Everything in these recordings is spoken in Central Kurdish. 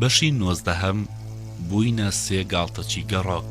بەشی نۆزدەهەم بووینە سێ گاڵتەچی گەڕۆک.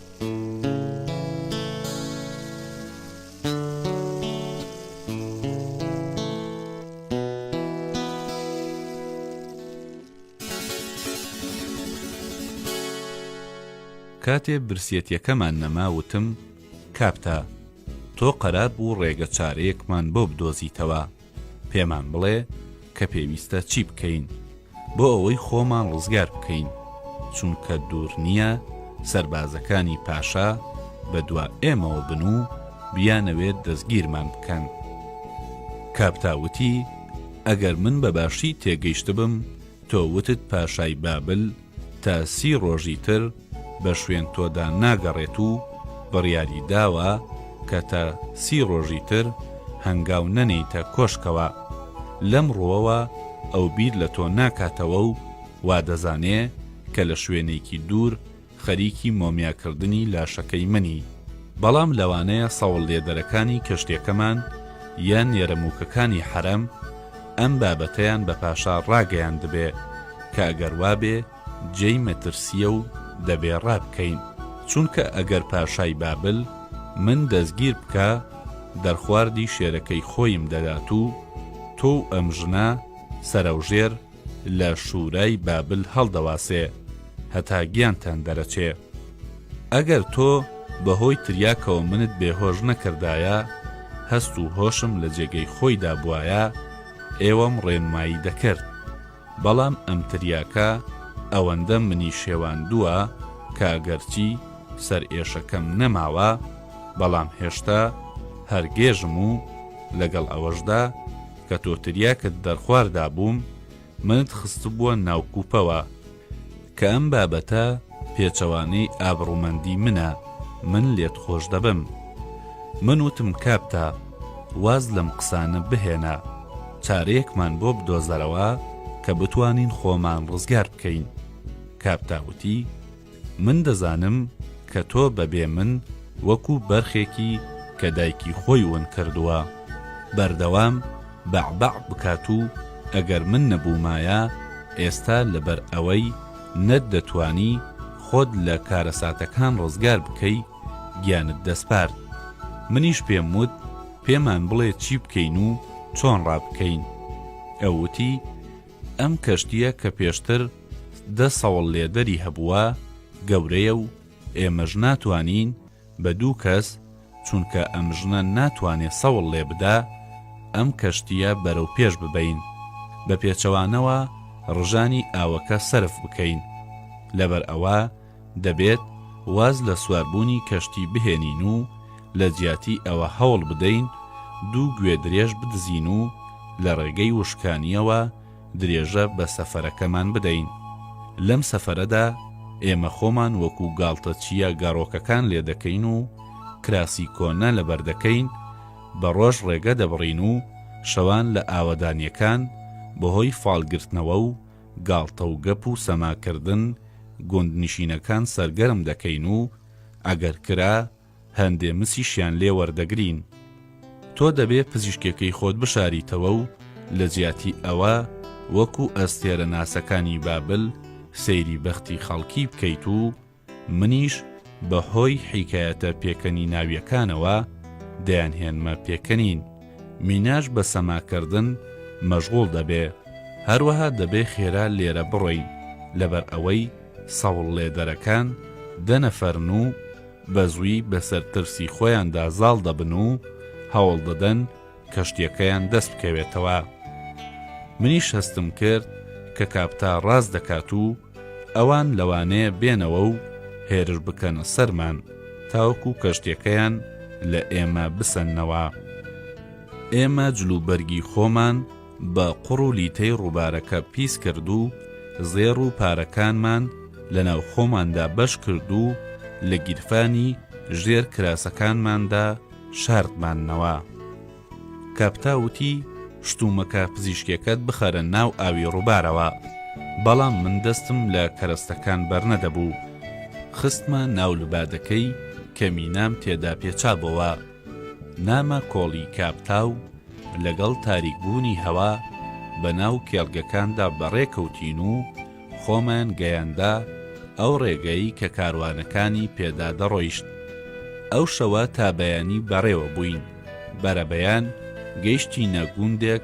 کاتێ برسیەتیەکەمان نەما وتم، کاپتا، تۆ قەرار بوو ڕێگە چارەیەکمان بۆ بدۆزیتەوە، پێمان بڵێ کە پێویستە چی بکەین بۆ ئەوەی خۆمان ڕزگار بکەین چونکە دوور نییە سەربازەکانی پاشا بە دوا ئێمەوە بن و بیانەوێت دەستگیرمان بکەن کاپتاوتی ئەگەر من بەباشی تێگەیشتبم تۆ وتت پاشای بابل تا سی ڕۆژی تر بە شوێن تۆدا ناگەڕێت و بڕیاری داوە کە تا سی ڕۆژی تر هەنگاو نەنێیتە کۆشکەوە. لەم ڕووەوە ئەو بیر لە تۆ ناکاتەوە و وا دەزانێ کە لە شوێنێکی دوور خەریکی مۆمیاکردنی لاشەکەی منی. بەڵام لەوانەیە سەوڵلێدەرەکانی کەشتیەکەمان یان نێرەمووکەکانی حەرەم، ئەم بابەتەیان بە پاشا ڕاگەیاندبێ کە ئەگەر وابێ جێی مەترسییە و دەبێ ڕابکەین، چونکە ئەگەر پاشای بابل من دەستگیر بکا، دەرخواردی شێرەکەی خۆیم دەدات و تۆ و ئەم ژنە سەرەوژێر لە شوورای بابل هەڵدەواسێ هەتا گیانتان دەرەچێ. ئەگەر تۆ بە هۆی تریاکەوە منت بێ هۆش نەکردایە، هەست و هۆشم لە جێگەی خۆی دابوایە، ئێوەم ڕێنمایی دەکرد. بەڵام ئەم تریاکە ئەوەندە منی شێواندووە کە ئەگەرچی سەرئێشەکەم نەماوە، بەڵام هێشتا هەر گێژم و لەگەڵ ئەوەشدا کە تۆ تریاکت دەرخواردابووم، منت خستبووە ناو کوپەوە. کە ئەم بابەتە پێچەوانەی ئابڕومەندی منە من لێت خۆش دەبم من وتم کابتا واز لەم قسانە بهێنە چارەیەکمان بۆ بدۆزەرەوە کە بتوانین خۆمان ڕزگار بکەین کابتا وتی من دەزانم کە تۆ بەبێ من وەکو بەرخێکی کە دایکی خۆی ون کردووە بەردەوام بەع بەع بکات و ئەگەر من نەبوومایە ئێستا لەبەر ئەوەی نەت دەتوانی خۆت لە کارەساتەکان ڕزگار بکەی گیانت دەسپارد منیش پێم وت پێمان بڵێ چی بکەین و چۆن ڕابکەین ئەو وتی ئەم کەشتیە کە پێشتر دە سەوڵ لێدەری هەبووە گەورەیە و ئێمەش ناتوانین بە دوو کەس چونکە ئەم ژنە ناتوانێ سەوڵ لێ بدا ئەم کەشتییە بەرەو پێش ببەین بە پێچەوانەوە ڕژانی ئاوەکە سەرف بکەین لەبەر ئەوە دەبێت واز لە سواربوونی کەشتی بهێنین و لە جیاتی ئەوە هەوڵ بدەین دوو گوێدرێژ بدزین و لە ڕێگەی وشکانییەوە درێژە بە سەفەرەکەمان بدەین. لەم سەفەرەدا ئێمە خۆمان وەکو گاڵتەچییە گەڕۆکەکان لێدەکەین و کراسی کۆنە لەبەردەکەین، بە ڕۆژ ڕێگە دەبڕین و شەوان لە ئاوەدانییەکان بەهۆی فالگرتنەوە و گاڵتە و گەپ و سەماکردن گوندنشینەکان سەرگەرم دەکەین و ئەگەر کرا، هەندێ مسیشیان لێ وەردەگرین. تۆ دەبێ پزیشکێکەی خۆت بشاریتەوە و لە جیاتی ئەوە وەکو ئەستێرە ناسەکانی بابل سەیری بەختی خەڵکی بکەیت و منیش بە هۆی حیکایەتە پێکەنیناویەکانەوە دەیانهێنمە پێکەنین. میناش بە سەماکردن مەشغوڵ دەبێ. هەروەها دەبێ خێرا لێرە بڕۆین لەبەر ئەوەی سەوڵلێدەرەکان دە نەفەرن و، بەزووی بەسەر ترسی خۆیاندا زاڵ دەبن و هەوڵ دەدەن کەشتیەکەیان دەست بکەوێتەوە. منیش هەستم کرد کە کاپتا ڕاست دەکات و ئەوان لەوانەیە بێنەوە و هێرش بکەنە سەرمان تاوەکو کەشتیەکەیان لە ئێمە بسەننەوە. ئێمە جلوبەرگی خۆمان، بە قوڕ و لیتەی ڕووبارەکە پیس کرد و زێڕ و پارەکانمان لە ناو خۆماندا بەش کرد و لە گیرفانی ژێر کراسەکانماندا شاردماننەوە. کاپتا وتی، شتومەکە پزیشکێکەت بخەرە ناو ئاوی ڕووبارەوە. بەڵام من دەستم لە کەرەستەکان بەرنەدەبوو. خستمە ناو لبادەکەی کە مینام تێدا پێچابۆوە. نامە کۆڵی کاپتاو لەگەڵ تاریکبوونی هەوا بە ناو کێڵگەکاندا بەڕێ کەوتین و خۆمان گەیاندە ئەو ڕێگەی کە کاروانەکانی پێدا دەڕۆیشت. ئەو شەوە تا بەیانی بەڕێوە بووین، بەرەبەیان گەیشتینە گوندێک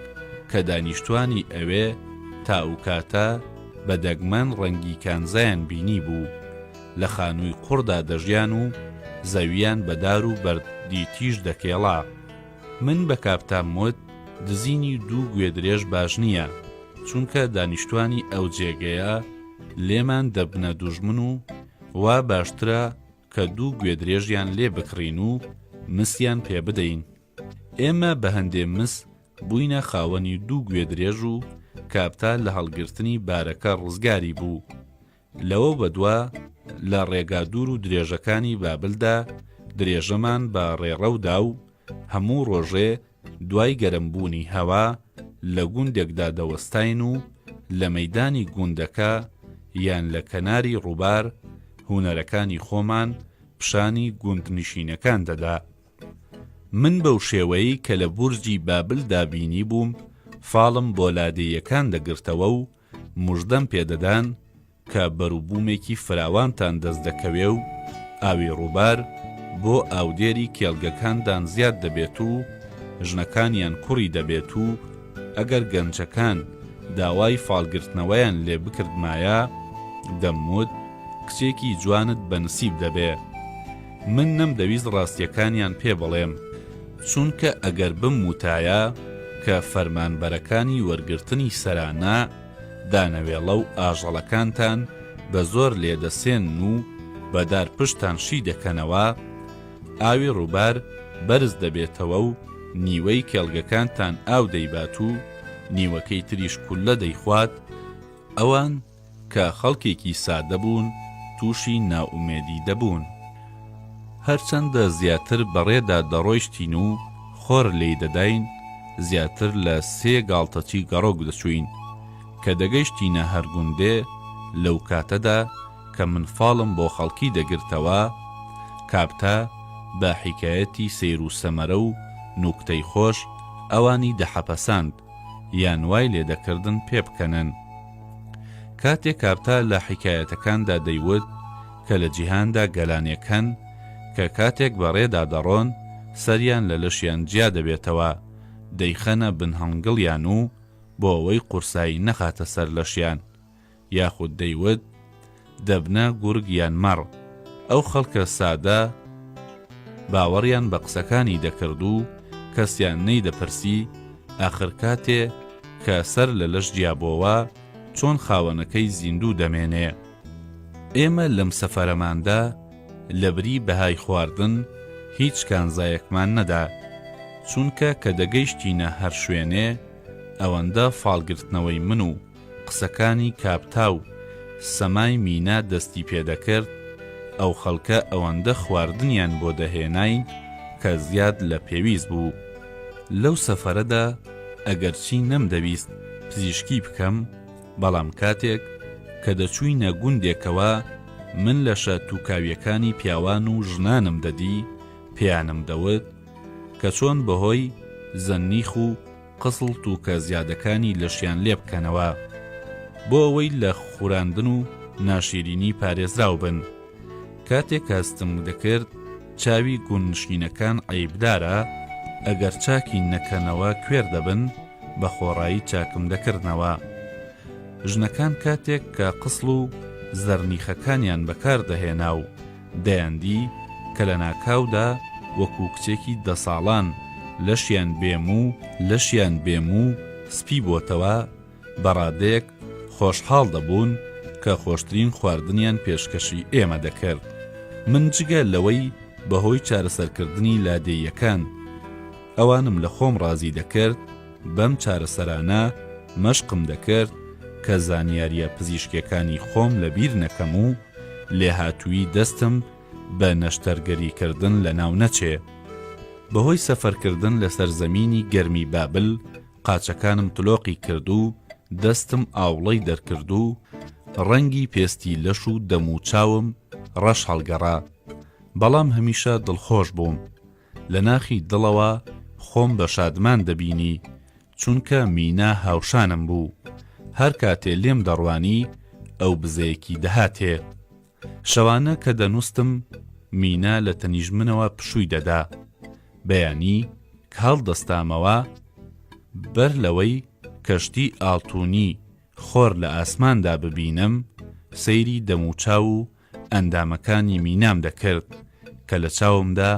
کە دانیشتوانی ئەوێ تا ئوکاتە بە دەگمەن ڕەنگی کانزایان بینیبوو. لە خانووی قوڕدا دەژیان و زەوییان بە دار و بەرد دی تیژ دەکێڵا. من بە کاپتام وت، دزینی دوو گوێدرێژ باش نییە، چونکە دانیشتووانی ئەو جێگەیە لێمان دەبنە دوژمن و وا باشترە کە دوو گوێدرێژیان لێ بکڕین و مسیان پێ بدەین. ئێمە بە هەندێ مس بووینە خاوەنی دوو گوێدرێژ و کاپتا لە هەڵگرتنی بارەکە ڕزگاری بوو. لەوە بەدوا لە ڕێگا دوور و درێژەکانی بابلدا درێژەمان بە ڕێڕەودا و هەموو ڕۆژێ دوای گەرمبوونی هەوا لە گوندێکدا دەوەستاین و لە مەدانی گوندەکە یان لە کەناری ڕووبار هونەرەکانی خۆمان پیشانی گوندنشینەکان دەدا. من بەو شێوەیەی کە لە بورجی بابلدا بینی بووم فاڵم بۆ لادێیەکان دەگرتەوە و مژدەم پێ دەدان کە بەروبوومێکی فراوانتان دەست دەکەوێ و ئاوی ڕووبار بۆ ئاودێری کێڵگەکاندان زیاد دەبێت و ژنەکانیان کوڕی دەبێت و ئەگەر گەنجەکان داوای فالگرتنەوەیان لێ بکردمایە دەموت کچێکی جوانت بە نسیب دەبێ. من نەمدەویست ڕاستیەکانیان پێ بڵێم، چونکە ئەگەر بموتایە کە فەرمانبەرەکانی وەرگرتنی سەرانە دانەوێڵە و ئاژەڵەکانتان بە زۆر لێدەسێنن و بە دار پشتتان شی دەکەنەوە، ئاوی ڕووبار بەرز دەبێتەوە و نیوەی کێڵگەکانتان ئاو دەیبات و نیوەکەی تریش کوللە دەیخوات، ئەوان، کە خەڵکێکی سادە بوون تووشی نائومێدی دەبوون. هەرچەندە زیاتر بەڕێدا دەڕۆیشتین و خۆر لێی دەداین، زیاتر لە سێ گاڵتەچی گەڕۆک دەچووین. کە دەگەیشتینە هەر گوندێ، لەو کاتەدا کە من فاڵم بۆ خەڵکی دەگرتەوە، کابتا بە حیکایەتی سەیر و سەمەرە و نوکتەی خۆش ئەوانی دەحەپەساند. یان وای لێدەکردن پێبکەنن. کاتێ کاپتا لە حیکایەتەکاندا دەیوت کە لە جیهاندا گەلانێک هەن کە کاتێک بە ڕێدا دەڕۆن سەریان لە لەشیان جیا دەبێتەوە، دەیخەنە بن هەنگڵیان و بۆ ئەوەی قورسایی نەخاتە سەر لەشیان، یاخود دەیوت، دەبنە گورگ یان مەڕ. ئەو خەڵکە سادە باوەڕیان بە قسەکانی دەکرد و کەسیان نەیدەپرسی، ئاخر کاتێ کە سەر لە لەش جیابۆوە، چۆن خاوەنەکەی زیندوو دەمێنێ؟ ئێمە لەم سەفەرەماندا لە بری بەهای خواردن، هیچ کانزایەکمان نەدا، چونکە کە دەگەیشتینە هەر شوێنێ، ئەوەندە فاڵ گرتنەوەی من و. قسەکانی کابتا و سەمای مینا دەستی پێدەکرد، ئەو خەڵکە ئەوەندە خواردنیان بۆ دەهێنای کە زیاد لە پێویست بوو. لەو سەفەرەدا ئەگەرچی نەمدەویست پزیشکی بکەم، بەڵام کاتێک کە دەچووینە گوندێکەوە من لەشە تووکاویەکانی پیاوان و ژنانم دەدی، پێیانم دەوت کە چۆن بەهۆی زەننیخ و. قزڵ تووکە زیادەکانی لەشیان لێ بکەنەوە بۆ ئەوەی لە خوراندن و ناشیرینی پارێزراو بن کاتێک کاستنگ دەکرد چاوی گوندنشینەکان عەیبدارە ئەگەر چاکی نەکەنەوە کوێر دەبن بە خۆڕایی چاکم دەکردنەوە ژنەکان کاتێک کە قسڵ و زەرنیخەکانیان بەکاردەهێنا و دەیاندی کە لە ناکاودا وەکوو کچێکی دە ساڵان لەشیان بێ موو و لەشیان بێ موو و سپی بۆتەوە، بە ڕادەیەک خۆشحاڵ دەبوون کە خۆشترین خواردنیان پێشکەشی ئێمە دەکرد. من جگە لەوەی بەهۆی چارەسەرکردنی لادێیەکان ئەوانم لە خۆم ڕازی دەکرد، بەم چارەسەرانە مەشقم دەکرد کە زانیارییە پزیشکییەکانی خۆم لەبیر نەکەم و لێهاتوویی دەستم بە نەشتەرگەریکردن لەناو نەچێ. بەهۆی سەفەرکردن لەسەر زەمینی گەرمی بابل، قاچەکانم تلۆقی کرد و دەستم ئاوڵەی دەرکرد و ڕەنگی پێستی لەش و دەم و چاوم ڕەش هەڵگەڕا. بەڵام هەمیشە دڵخۆش بووم. لە ناخی دڵەوە خۆم بە شادمان دەبینی، چونکە مینا هاوشانم بوو، هەر کاتێ لێم دەڕوانی ئەو بزەیەکی دەهاتێ. شەوانە کە دەنووستم، مینا لە تەنیش منەوە پشووی دەدا. بەیانی کە هەڵدەستامەوە، بەر لەوەی کەشتی ئاڵتوونی خۆر لە ئاسماندا ببینم، سەیری دەموچاو و ئەندامەکانی مینام دەکرد کە لە چاومدا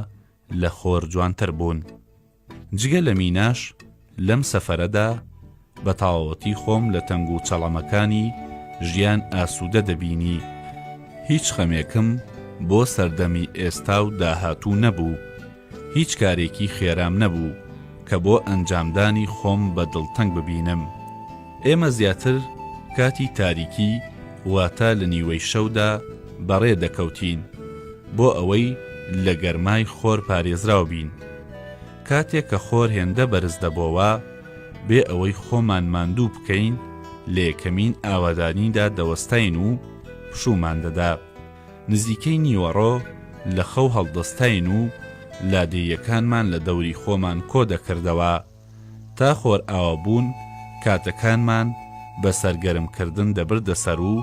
لە خۆر جوانتر بوون جگە لە میناش لەم سەفەرەدا بە تاوەتی خۆم لە تەنگ و چەڵەمەکانی ژیان ئاسوودە دەبینی هیچ خەمێکم بۆ سەردەمی ئێستا و داهاتوو نەبوو هیچ کارێکی خێرام نەبوو کە بۆ ئەنجامدانی خۆم بە دڵتەنگ ببینم. ئێمە زیاتر کاتی تاریکی واتە لە نیوەی شەودا بەڕێ دەکەوتین بۆ ئەوەی لە گەرمای خۆر پارێزراو بین. کاتێک کە خۆر هێندە بەرز دەبۆوە بێ ئەوەی خۆمان ماندوو بکەین لە یەکەمین ئاوادانیدا دەوەستاین و پشوومان دەدا. نزیکەی نیوەڕۆ لە خەو هەڵدەستاین و لادێیەکانمان لە دەوری خۆمان کۆ دەکردەوە. تا خۆرئاوا بوون کاتەکانمان بە سەرگەرم کردن دەبردە سەر و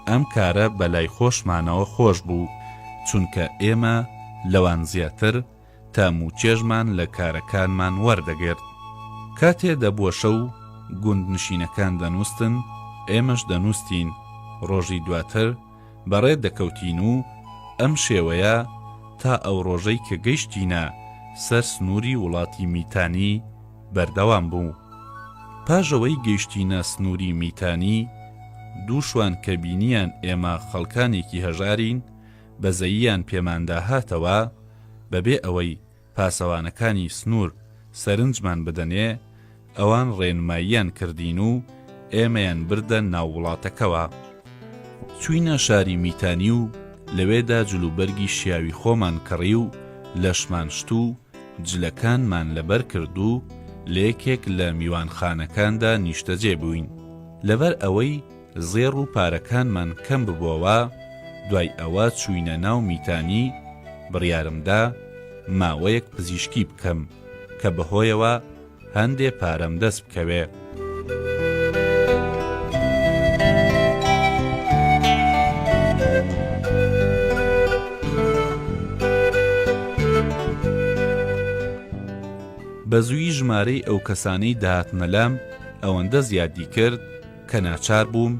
ئەم کارە بە لای خۆشمانەوە خۆش بوو، چونکە ئێمە لەوان زیاتر تام و چێژمان لە کارەکانمان وەردەگرت. کاتێ دەبووە شەو گوندنشینەکان دەنووستن، ئێمەش دەنووستین، ڕۆژی دواتر، بەڕێ دەکەوتین و ئەم شێوەیە تا ئەو ڕۆژەی کە گەیشتینە سەر سنووری وڵاتی میتانی بەردەوام بوو. پاش ئەوەی گەیشتینە سنووری میتانی، دوو شوان کە بینیان ئێمە خەڵکانێکی هەژارین، بەزەییان پێماندا هاتەوە، بەبێ ئەوەی پاسەوانەکانی سنوور سەرنجمان بدەنێ، ئەوان ڕێنماییان کردین و ئێمەیان بردە ناو وڵاتەکەوە. چووینە شاری میتانی و لەوێدا جلوبەرگی شیاوی خۆمان کڕی و لەشمان شت و جلەکانمان لەبەر کرد و لە یەکێک لە میوانخانەکاندا نیشتەجێ بووین. لەبەر ئەوەی زێڕ و پارەکانمان کەم ببۆوە، دوای ئەوە چووینە ناو میتانی، بڕیارم دا ماوەیەک پزیشکی بکەم، کە بەهۆیەوە هەندێ پارەم دەست بکەوێ. بە زوویی ژمارەی ئەو کەسانەی دەهاتنە لام ئەوەندە زیادی کرد، کە ناچار بووم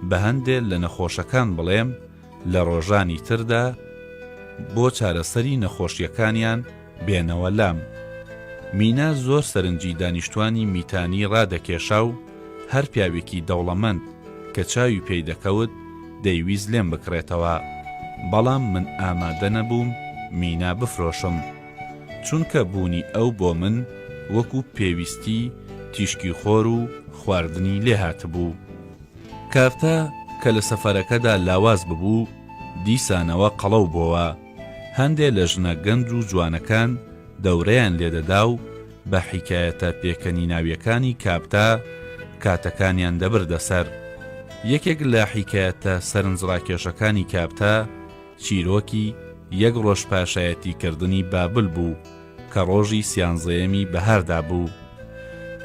بە هەندێ لە نەخۆشەکان بڵێم لە ڕۆژانی تردا بۆ چارەسەری نەخۆشییەکانیان بێنەوە لام. مینا زۆر سەرنجی دانیشتوانی میتانی ڕادەکێشا و هەر پیاوێکی دەوڵەمەند کە چاوی پێی دەکەوت دەیویست لێم بکڕێتەوە، بەڵام من ئامادە نەبووم مینا بفرۆشم. چونکە بوونی ئەو بۆ من وەکو پێویستی تیشکی خۆر و خواردنی لێ هاتبوو. کارتە کە لە سەفەرەکەدا لاواز ببوو، دیسانەوە قەڵەو بۆوە، هەندێ لە ژنە گەنج و جوانەکان دەورەیان لێ دەدا و بە حیکایەتە پێکەنیناویەکانی کابتا کاتەکانیان دەبردە سەر. یەکێک لە حیکایەتە سەرنجڕاکێشەکانی کابتا، چیرۆکی یەک ڕۆژ پاشایەتی کردنی بابل بوو کە ڕۆژی سیانزەیەمی بەهاردا بوو.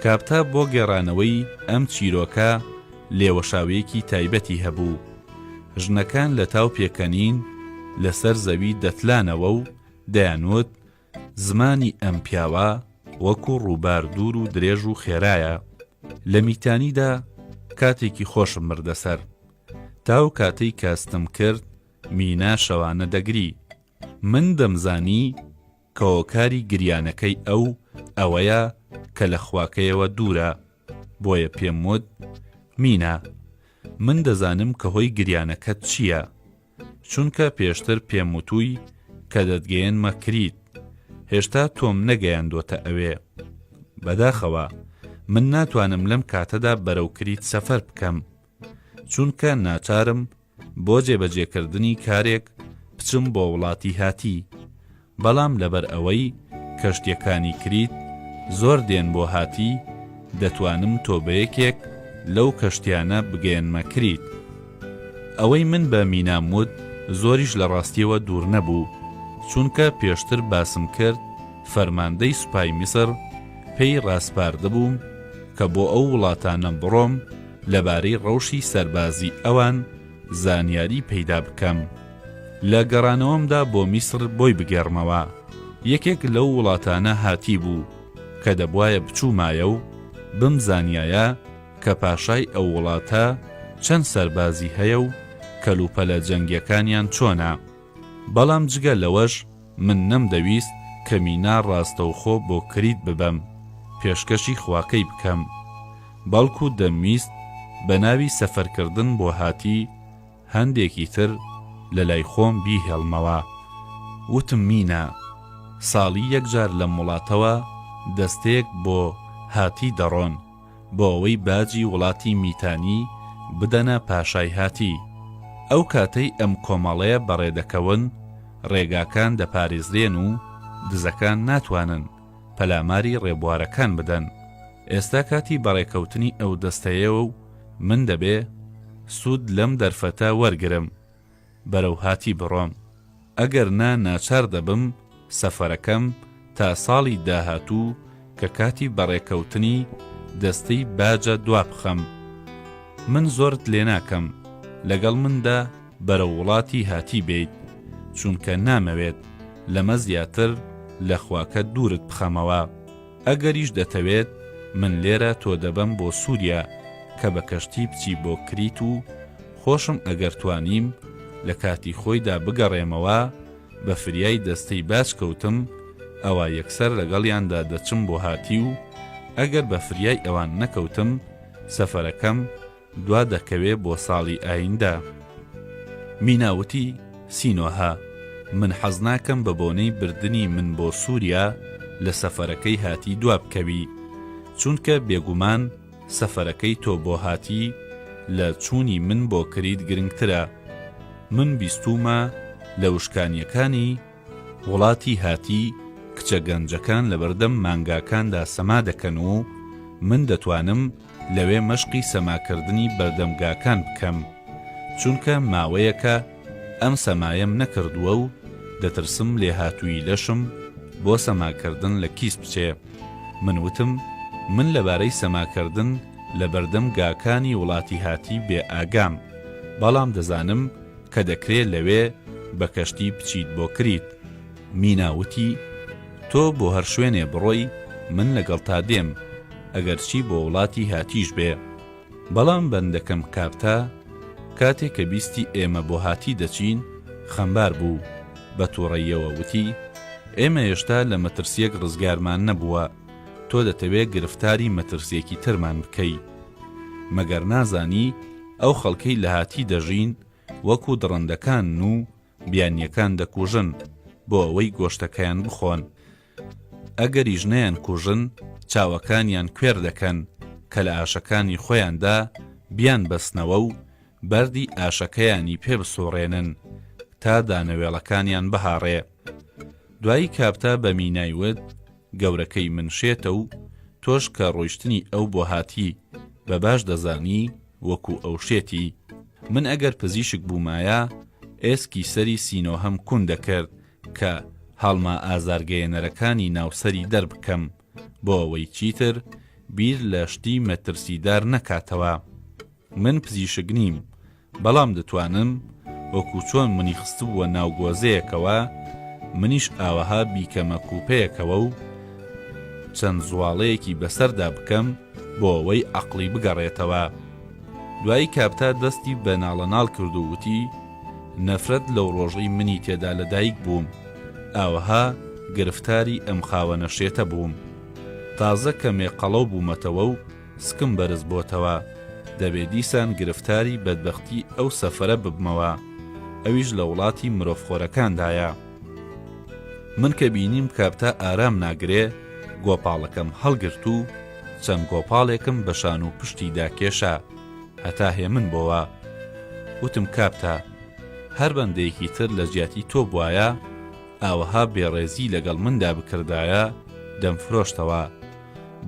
کاپتا بۆ گێڕانەوەی ئەم چیرۆکە لێوەشاوێکی تایبەتی هەبوو. ژنەکان لە تاو پێکەنین لەسەر زەوی دەتلانەوە و دەیانوت زمانی ئەم پیاوە وەکو ڕووبار دوور و درێژ و خێرایە، لە میتانیدا کاتێکی خۆشم بردە سەر. تا ئەو کاتەی کە ستم کرد، مینا شەوانە دەگری. من دەمزانی کە هۆکاری گریانەکەی ئەو ئەوەیە کە لە خواکەیەوە دوورە، بۆیە پێم وت، مینا، من دەزانم کە هۆی گریانەکەت چییە. چونکە پێشتر پێم وتووی کە دەتگەیەنمە کریت، هێشتا تۆم نەگەیاندۆتە ئەوێ. بەداخەوە، من ناتوانم لەم کاتەدا بەرەو کریت سەفەر بکەم، چونکە ناچارم بۆ جێبەجێکردنی کارێک بچم بۆ وڵاتی هاتی. بەڵام لەبەر ئەوەی کەشتیەکانی کریت زۆر دێن بۆ هاتی دەتوانم تۆ بە یەکێک لەو کەشتیانە بگەیەنمە کریت. ئەوەی من بە مینام وت زۆریش لە ڕاستیەوە دوور نەبوو، چونکە پێشتر باسم کرد فەرماندەی سوپای میسر پێی ڕاسپاردبووم کە بۆ ئەو وڵاتانە بڕۆم لەبارەی ڕەوشی سەربازی ئەوان زانیاری پەیدا بکەم. لە گەڕانەوەمدا بۆ میسڕ بۆی بگێڕمەوە، یەکێک لەو وڵاتانە هاتیبوو کە دەبوایە بچوومایە و بمزانیایە کە پاشای ئەو وڵاتە چەند سەربازی هەیە و کەلوپەلە جەنگیەکانیان چۆنە، بەڵام جگە لەوەش من نەمدەویست کە مینا ڕاستەوخۆ بۆ کریت ببەم پێشکەشی خواکەی بکەم، بەڵکو دەمویست بەناوی سەفەرکردن بۆ هاتی، هەندێکی تر لە لای خۆم بیهێڵمەوە. وتم مینە. ساڵی یەک جار لەم وڵاتەوە دەستەیەک بۆ هاتی دەڕۆن بۆ ئەوەی باجی وڵاتی میتانی بدەنە پاشای هاتی. ئەو کاتەی ئەم کۆمەڵەیە بەڕێ دەکەون، ڕێگاکان دەپارێزرێن و دزەکان ناتوانن. پەلاماری ڕێبوارەکان بدەن. ئێستا کاتی بەڕێکەوتنی ئەو دەستەیەوە و من دەبێ سوود لەم دەرفەتە وەرگرم بەرەو هاتی بڕۆم، ئەگەر نا ناچار دەبم سەفەرەکەم تا ساڵی داهاتوو کە کاتی بەڕێکەوتنی دەستەی باجە دوابخەم. من زۆرت لێناکەم لەگەڵ مندا. بەرەو وڵاتی هاتی بێیت چونکە نامەوێت لەمە زیاتر لە خواکەت دوورت بخەمەوە ئەگەریش دەتەوێت من لێرە تۆ دەبەم بۆ سوریا کە بە کەشتی بچی بۆ کریت و خۆشم ئەگەر توانیم لە کاتی خۆیدا بگەڕێمەوە بە فریای دەستەی باج کەوتم ئەوا یەکسەر لەگەڵیاندا دەچم بۆ هاتی و ئەگەر بە فریای ئەوان نەکەوتم سەفەرەکەم دوا دەکەوێ بۆ ساڵی ئایندە. مینا وتی، سینۆهە، من حەز ناکەم بە بۆنەی بردنی من بۆ سووریا لە سەفەرەکەی هاتی دوا بکەوی، چونکە بێگومان سەفەرەکەی تۆ بۆ هاتی لە چوونی من بۆ کریت گرنگترە. من بیستوومە لە وشکانییەکانی، وڵاتی هاتی، کچە گەنجەکان لەبەردەم مانگاکاندا سەما دەکەن و من دەتوانم لەوێ مەشقی سەماکردنی بەردەمگاکان بکەم، چونکە ماوەیەکە ئەم سەمایەم نەکردووە و دەترسم لێهاتوویی لەشم بۆ سەماکردن لە کیس بچێ. من وتم من لەبارەی سەماکردن لەبەردەم گاکانی وڵاتی هاتی بێ ئاگام، بەڵام دەزانم، کە دەکرێ لەوێ بە کەشتی بچیت بۆ کریت. مینا وتی، تۆ بۆ هەر شوێنێ بڕۆی من لەگەڵتا دێم، ئەگەرچی بۆ وڵاتی هاتیش بێ. بەڵام بەندەکەم کاپتا کاتێ کە بیستی ئێمە بۆ هاتی دەچین خەمبار بوو، بە توڕەییەوە وتی، ئێمە یێشتا لە مەترسییەک ڕزگارمان نەبووە. تۆ دەتەوێ گرفتاری مەترسیەکی ترمان بکەی مەگەر نازانی ئەو خەڵکەی لە هاتی دەژین وەکو دڕندەکان و بیانیەکان دەکوژن بۆ ئەوەی گۆشتەکەیان بخۆن ئەگەریش نیان کوژن چاوەکانیان کوێر دەکەن کە لە ئاشەکانی خۆیاندا بیان بەستنەوە و بەردی ئاشەکەیانی پێ بسوڕێنن تا دانەوێڵەکانیان بهاڕێ دوایی کاپتا بە مینای وت گەورەکەی من شێتە و تۆش کە ڕۆیشتنی ئەو بۆ هاتی بە باش دەزانی وەکو ئەو شێتی، من ئەگەر پزیشک بوومایە ئێسکی سەری سینۆهەم کون دەکرد کە هەڵمە ئازارگەیەنەرەکانی ناو سەری دەربکەم بۆ ئەوەی چیتر بیر لە شتی مەترسیدار نەکاتەوە. من پزیشک نیم بەڵام دەتوانم وەکو چۆن منی خستبووە ناو گۆزەیەکەوە منیش ئاوەها بیکەمە کوپەیەکەوە و چەند زوواڵەیەکی بەسەردا بکەم بۆ ئەوەی عەقڵی بگەڕێتەوە. دوایی کاپتا دەستی بە ناڵەناڵ کرد و وتی، نەفرەت لەو ڕۆژەی منی تێدا لە دایک بووم ئاوەها گرفتاری ئەم خاوەنە شێتە بووم. تازە کەمێ قەڵەو بوومەتەوە و سکم بەرز بۆتەوە دەبێ دیسان گرفتاری بەدبەختی ئەو سەفەرە ببمەوە ئەویش لە وڵاتی مرۆڤ خۆرەکاندایە من کە بینیم کابتا ئارام ناگرێ گۆپاڵەکەم هەڵگرت و چەند گۆپاڵێکم بە شان و پشتی داکێشا هەتا هێمن بۆوە وتم کابتا هەر بەندەیەکی تر لە جیاتی تۆ بواە ئاوەها بێڕێزی لەگەڵ مندا بکردایە دەمفرۆشتەوە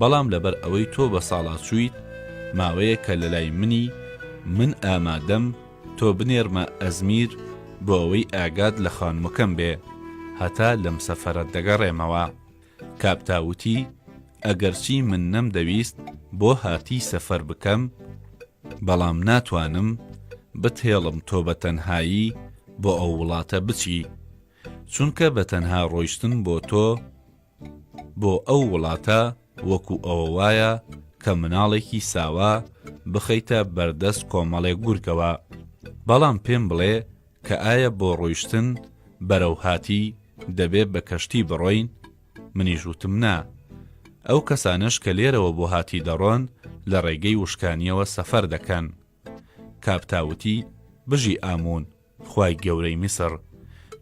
بەڵام لەبەر ئەوەی تۆ بەساڵاچوویت ماوەیەکە لەلای منی، من ئامادەم تۆ بنێرمە ئەزمیر بۆ ئەوەی ئاگات لە خانمەکەم بێ، هەتا لەم سەفەرە دەگەڕێمەوە. کاپتا وتی، ئەگەرچی من نەمدەویست بۆ هاتی سەفەر بکەم، بەڵام ناتوانم بتهێڵم تۆ بە تەنهایی بۆ ئەو وڵاتە بچی، چونکە بە تەنها ڕۆیشتن بۆ تۆ، بۆ ئەو وڵاتە وەکو ئەوە وایە کە مناڵێکی ساوا بخەیتە بەردەست کۆمەڵێک گورگەوە، بەڵام پێم بڵێ کە ئایا بۆ ڕۆیشتن بەرەو هاتی دەبێ بە کەشتی بڕۆین؟ منیش وتم نا. ئەو کەسانەش کە لێرەوە بۆ هاتی دەڕۆن لە ڕێگەی وشکانیەوە سەفەر دەکەن. کاپتا وتی بژی ئامون. خوای گەورەی میسڕ،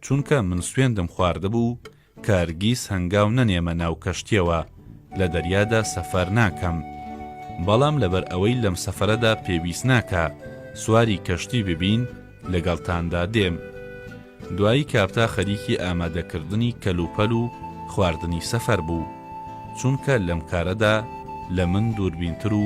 چونکە من سوێندم خواردبوو کە هەرگیز هەنگاو نەنێمە ناو کەشتییەوە، لە دەریادا سەفەر ناکەم، بەڵام لەبەر ئەوەی لەم سەفەرەدا پێویست ناکا سواری کەشتی ببین، لەگەڵتاندا دێم. دوایی کاپتا خەریکی ئامادەکردنی کەلوپەل و خواردنی سەفەر بوو، چونکە لەم کارەدا لە من دووربینتر و،